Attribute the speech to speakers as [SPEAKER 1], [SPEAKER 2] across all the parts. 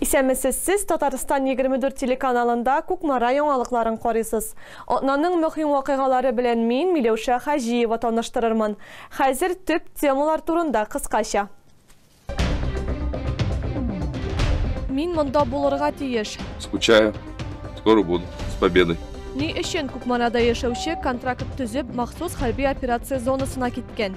[SPEAKER 1] Исәнмесез, сез Татарстан 24 телеканалында Кукмара яңалыкларын карыйсыз. Атнаның мөһим вакыйгалары белән мин, Миләүшә Хаҗиева таныштырырмын. Хәзер төп темалар турында кыскача. Мин монда булырга тиеш. Скучаю.
[SPEAKER 2] Скоро буду. С победой. Ни өчен
[SPEAKER 1] Кукмарада яшәүче контракт төзеп, махсус хәрби операция зонасына киткән?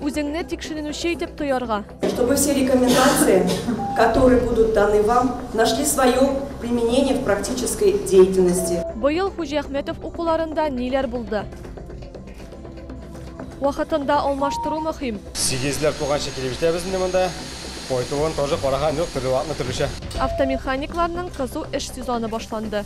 [SPEAKER 1] Үзеңне тикшеренүче итеп тоярга. Чтобы все
[SPEAKER 3] рекомендации, которые будут даны вам, нашли свое применение в практической деятельности. Быел Хуҗиәхмәтов
[SPEAKER 1] укуларында ниләр булды? Вакытында алмаштыру мөһим. Сигезләр туганчы
[SPEAKER 4] килеп җитәбез инде монда. Кайтуын тоже караган юк, төрле вакытны төрлечә. Автомеханикларның
[SPEAKER 1] кызу эш сезоны башланды.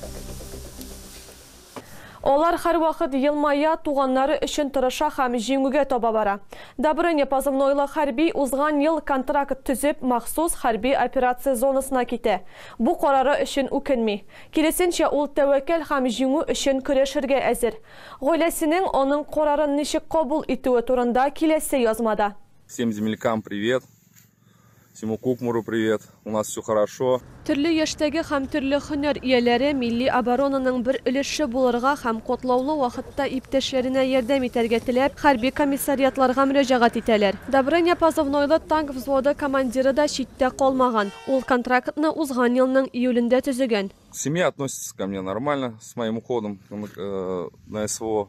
[SPEAKER 1] Алар һәрвакыт елмая, туганнары өчен тырыша һәм җиңүгә таба бара. Добрыня позывнойлы хәрби узган ел контракт төзеп, махсус хәрби операция зонасына китә. Бу карары өчен үкенми. Киресенчә, ул тәвәккәл һәм җиңү өчен көрәшергә әзер. Гаиләсенең аның карарын ничек кабул итүе турында киләсе язмада. Всем землякам
[SPEAKER 2] привет! Всему Кукмуру привет. У нас все хорошо. Төрле яшьтәге
[SPEAKER 1] һәм төрле һөнәр ияләре милли оборонаның бер өлеше булырга һәм котлаулы вакытта иптәшләренә ярдәм итәргә теләп, хәрби комиссариатларга мөрәҗәгать итәләр. Добрыня позывнойлы танк взводы командиры да читтә калмаган, ул контрактны узган елның июлендә төзегән. Семья относится
[SPEAKER 2] ко мне нормально, с моим уходом э, на СВО.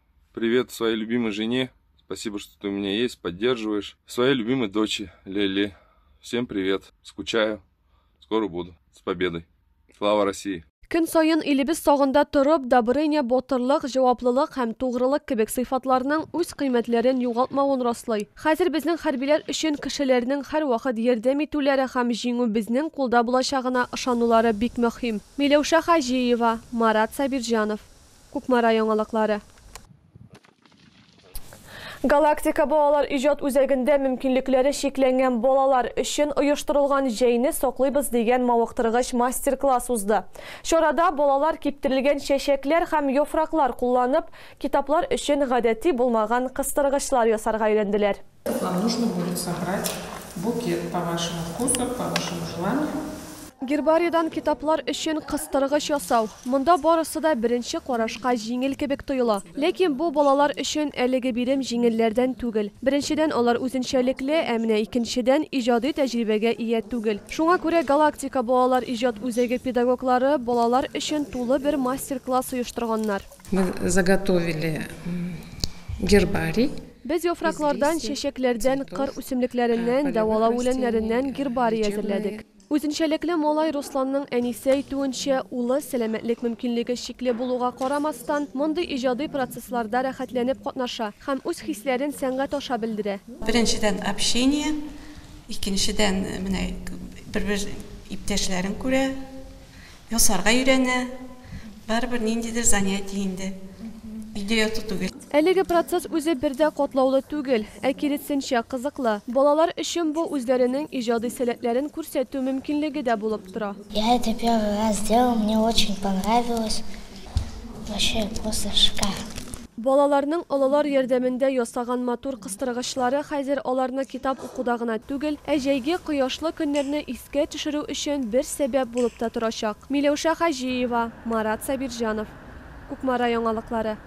[SPEAKER 2] Привет своей любимой жене. Спасибо, что ты у меня есть, поддерживаешь. Своей любимой дочи Лели. Всем привет. Скучаю. Скоро буду. С победой. Слава России! Көн сайын илебез
[SPEAKER 1] сагында торып, добрыня, ботырлык, җаваплылык һәм тугрылык кебек сыйфатларның үз кыйммәтләрен югалтмавын раслый. Хәзер безнең хәрбиләр өчен кешеләрнең һәрвакыт ярдәм итүләре һәм җиңү безнең кулда булачагына ышанулары бик мөһим. Миләүшә Хаҗиева, Марат Сабирҗанов. Кукмара яңалыклары. Галактика балалар иҗат үзәгендә мөмкинлекләре чикләнгән балалар өчен оештырылган Җәйне саклыйбыз дигән мавыктыргыч мастер-класс узды. Чарада балалар киптерелгән чәчәкләр һәм яфраклар кулланып, китаплар өчен гадәти булмаган кыстыргычлар ясарга өйрәнделәр. Вам нужно
[SPEAKER 5] будет собрать букет по вашему вкусу, по вашему желанию. Гербариедан
[SPEAKER 1] китаплар өчен кыстыргыч ясау. Монда барысы да беренче карашка җиңел кебек тоела. Ләкин бу балалар өчен әлеге бирем җиңелләрдән түгел. Беренчедән, алар үзенчәлекле, ә менә икенчедән, иҗади тәҗрибәгә ия түгел. Шуңа күрә Галактика балалар иҗат үзәге педагоглары балалар өчен тулы бер мастер-класс оештырганнар. Мы
[SPEAKER 5] заготовили гербарий. Без
[SPEAKER 1] яфраклардан, чәчәкләрдән, кыр үсемлекләреннән, дәвалау үләннәреннән гербарий әзерләдек. Үзенчәлекле малай Русланның әнисе әйтүенчә, улы, сәламәтлек мөмкинлеге чикле булуга карамастан, мондый иҗади процессларда рәхәтләнеп катнаша һәм үз хисләрен сәнгать аша белдерә. Беренчедән,
[SPEAKER 6] общение, икенчедән, менә бер-бер иптәшләрен күрә, Ясарга өйрәнә. Барыбер ниндидер занятие инде. Өйдә яту түгел. Әлеге процесс
[SPEAKER 1] үзе бер дә катлаулы түгел, ә киресенчә, кызыклы. Балалар өчен бу үзләренең иҗади сәләтләрен күрсәтү мөмкинлеге дә булып тора. Я это первый
[SPEAKER 7] раз делал, мне очень понравилось, вообще просто шикарно. Балаларның
[SPEAKER 1] олылар ярдәмендә ясаган матур кыстыргычлары хәзер аларны китап укуда гына түгел, ә җәйге кояшлы көннәрне искә төшерү өчен бер сәбәп булып та торачак. Миләүшә Хаҗиева, Марат Сабирҗанов. Кукмара яңалыклары.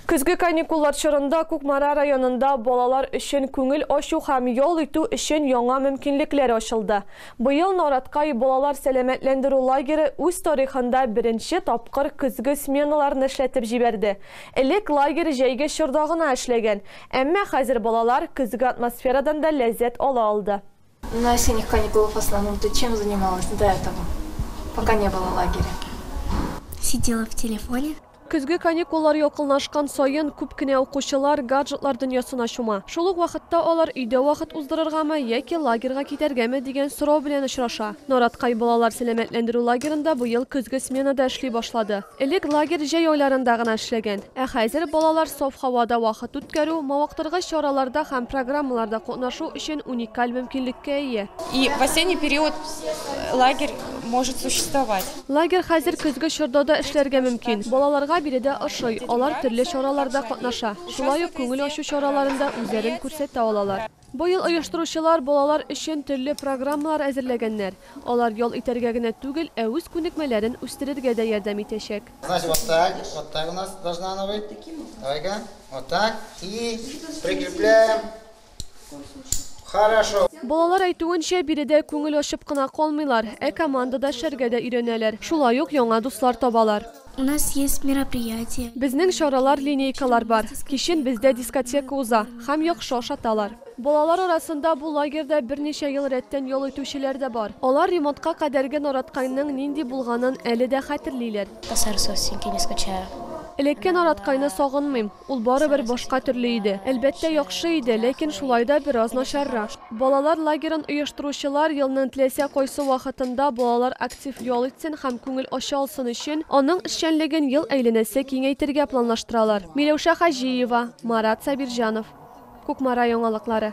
[SPEAKER 1] Көзге каникуллар чорында Кукмара районында балалар өчен күңел ачу һәм ял итү өчен яңа мөмкинлекләр ачылды. Быел Норатгай балалар сәламәтләндерү лагере үз тарихында беренче тапкыр көзге сменаларны эшләтеп җибәрде. Элек лагерь җәйге чорда гына эшләгән, әмма хәзер балалар көзге атмосферадан да ләззәт ала алды. На осенних
[SPEAKER 8] каникулах в основном ты чем занималась до этого, пока не было лагеря?
[SPEAKER 7] Сидела в телефоне. Көзге каникуллар
[SPEAKER 1] якынлашкан саен, күп кенә укучылар гаджетлар дөньясына чума. Шул ук вакытта алар өйдә вакыт уздырыргамы яки лагерьга китәргәме дигән сорау белән очраша. Нараткай балалар сәламәтләндерү лагерында быел көзге смена да эшли башлады. Элек лагерь җәй айларында гына эшләгән. Ә хәзер балалар саф һавада вакыт үткәрү, мавыктыргыч чараларда һәм программаларда катнашу өчен уникаль мөмкинлеккә ия. И в осенний
[SPEAKER 9] период лагерь может существовать. Лагерь хәзер
[SPEAKER 1] көзге чорда да эшләргә мөмкин. Балаларга биредә ошый, алар төрле чараларда катнаша, шулай ук күңел ачу чараларында үзләрен күрсәтә алалар. Быел оештыручылар балалар өчен төрле программалар әзерләгәннәр, алар ял итәргә генә түгел, ә үз күнекмәләрен үстерергә дә ярдәм итәчәк.
[SPEAKER 10] Хорошо. Балалар әйтүенчә,
[SPEAKER 1] биредә күңел ачып кына калмыйлар, ә командада эшләргә дә өйрәнәләр, шулай ук яңа дуслар табалар. У нас есть
[SPEAKER 7] мероприятия. Безнең чаралар,
[SPEAKER 1] линейкалар бар. Кичен бездә дискотека уза һәм яхшы ашаталар. Балалар арасында бу лагерьда берничә ел рәттән ял итүчеләр дә бар. Алар ремонтка кадәрге Нараткайның нинди булганын әле дә хәтерлиләр. Посарсо синки не
[SPEAKER 7] скучаю. Элекке
[SPEAKER 1] Нараткайны сагынмыйм. Ул барыбер башка төрле иде. Әлбәттә, яхшы иде, ләкин шулай да бераз начаррак. Балалар лагерын оештыручылар елның теләсә кайсы вакытында балалар актив ял итсен һәм күңел ача алсын өчен, аның эшчәнлеген ел әйләнәсе киңәйтергә планлаштыралар. Миләүшә Хаҗиева, Марат Сабирҗанов. Кукмара яңалыклары.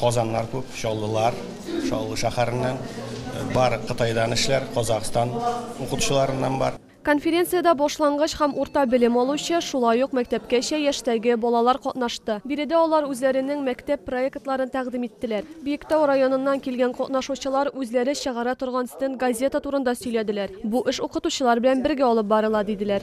[SPEAKER 4] Казаннар күп, Чаллылар, Чаллы шәһәреннән бар, Кытайдан эшләр, Казахстан укытучыларыннан бар. Конференциядә
[SPEAKER 1] башлангыч һәм урта белем алучы, шулай ук мәктәпкәчә яшьтәге балалар катнашты. Биредә алар үзләренең мәктәп проектларын тәкъдим иттеләр. Биектау районыннан килгән катнашучылар үзләре чыгара торган стенд-газета турында сөйләделәр. Бу эш укытучылар белән бергә алып барыла, диделәр.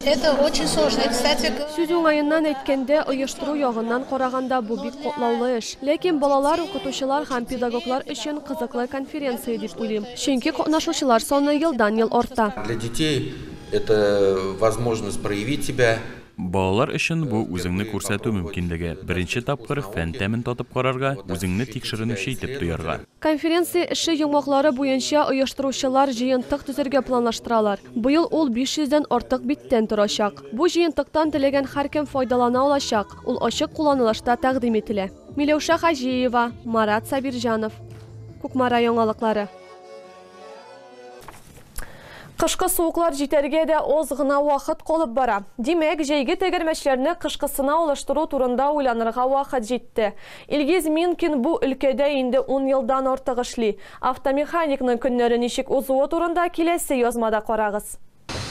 [SPEAKER 1] Это очень сложно.
[SPEAKER 7] Кстати, Сүз уңаеннан
[SPEAKER 1] әйткәндә, оештыру ягыннан караганда бу бик котлаулы эш. Ләкин балалар, укытучылар һәм педагоглар өчен кызыклы конференция дип уйлыйм. Чөнки катнашучылар саны елдан-ел арта. Для детей
[SPEAKER 11] это возможность проявить себя. Балалар өчен
[SPEAKER 12] бу үзеңне күрсәтү мөмкинлеге, беренче тапкыр фән тәмен татып карарга, үзеңне тикшеренүче итеп тоярга. Конференция эше
[SPEAKER 1] йомгаклары буенча оештыручылар җыентык төзергә планлаштыралар. Быел ул 500 дән артык биттән торачак. Бу җыентыктан теләгән һәркем файдалана алачак, ул ачык кулланылышта тәкъдим ителә. Миләүшә Хаҗиева, Марат Сабирҗанов. Кукмара яңалыклары. Кышкы суыклар җитәргә дә аз гына вакыт калып бара. Димәк, җәйге тәгәрмәчләрне кышкысына алыштыру турында уйланырга вакыт җитте. Илгиз Минкин бу өлкәдә инде ун елдан артык эшли. Автомеханикның көннәре ничек узуы турында киләсе язмада карагыз.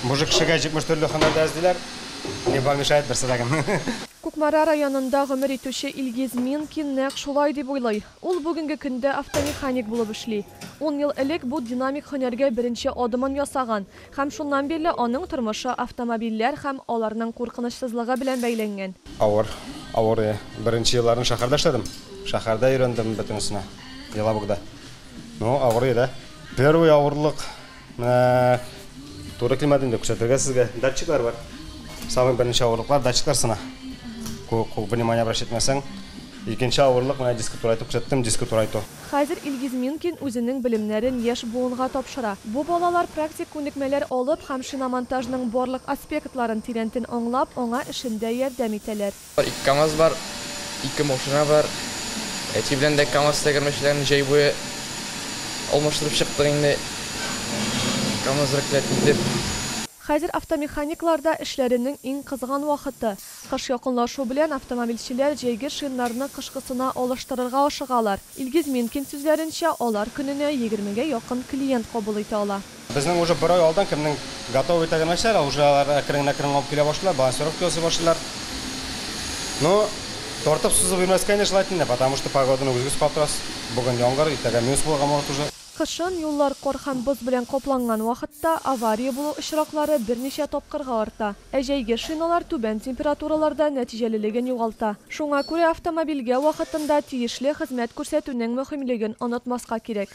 [SPEAKER 1] Мужик кешегә
[SPEAKER 4] 70 төрле һөнәр дәрес диләр. Не помешает берсе дә кем. Кукмара
[SPEAKER 1] районында гомер итүче Илгиз Минкин нәкъ шулай дип уйлый. Ул бүгенге көндә автомеханик булып эшли. Ун ел элек бу динамик һөнәргә беренче адымын ясаган һәм шуннан бирле аның тормышы автомобильләр һәм аларның куркынычсызлыгы белән бәйләнгән. Авыр, авыр
[SPEAKER 4] иде. Беренче елларын шәһәрдә эшләдем. Шәһәрдә өйрәндем бөтенесенә, Елабугда. Ну, авыр иде. Первый авырлык. Менә туры килмәде инде күрсәтергә сезгә. Датчиклар бар. Самый беренче авырлыклар датчиклар сына. Күп внимание обращать итмәсәң. Икенче авырлык менә диско турайту күрсәттем, диско турайту. Хәзер Илгиз
[SPEAKER 1] Минкин үзенең белемнәрен яшь буынга тапшыра. Бу балалар практик күнекмәләр алып һәм шиномонтажның барлык аспектларын тирәнтен аңлап, аңа эшендә ярдәм итәләр. Ике камаз бар,
[SPEAKER 13] ике машина бар. Әти белән дә камаз тәгәрмәчләрен җәй буе алмаштырып чыктык инде, камаз рәтләп китеп. Хәзер
[SPEAKER 1] автомеханикларда эшләренең иң кызган вакыты. Кыш якынлашу белән автомобильчеләр җәйге шиннарны кышкысына алыштырырга ашыгалар. Илгиз Минкин сүзләренчә, алар көненә егермегә якын клиент кабул итә ала. Безнең уже бер ай
[SPEAKER 4] алдан кемнең готовый итә генә нәрсәләр, уже алар әкрен әкрен алып килә башлыйлар, балансировка ясый башлыйлар. Ну, тартып сузып йөрмәскә инде шулай тиң дә, потому что погоданы үзегез катырасыз, бүген яңгыр, иртәгә минус булырга может уже. Кышын, юллар
[SPEAKER 1] кар һәм боз белән капланган вакытта, авария булу очраклары берничә тапкырга арта, ә җәйге шиналар түбән температураларда нәтиҗәлелеген югалта. Шуңа күрә автомобильгә вакытында тиешле хезмәт күрсәтүнең мөһимлеген онытмаска кирәк.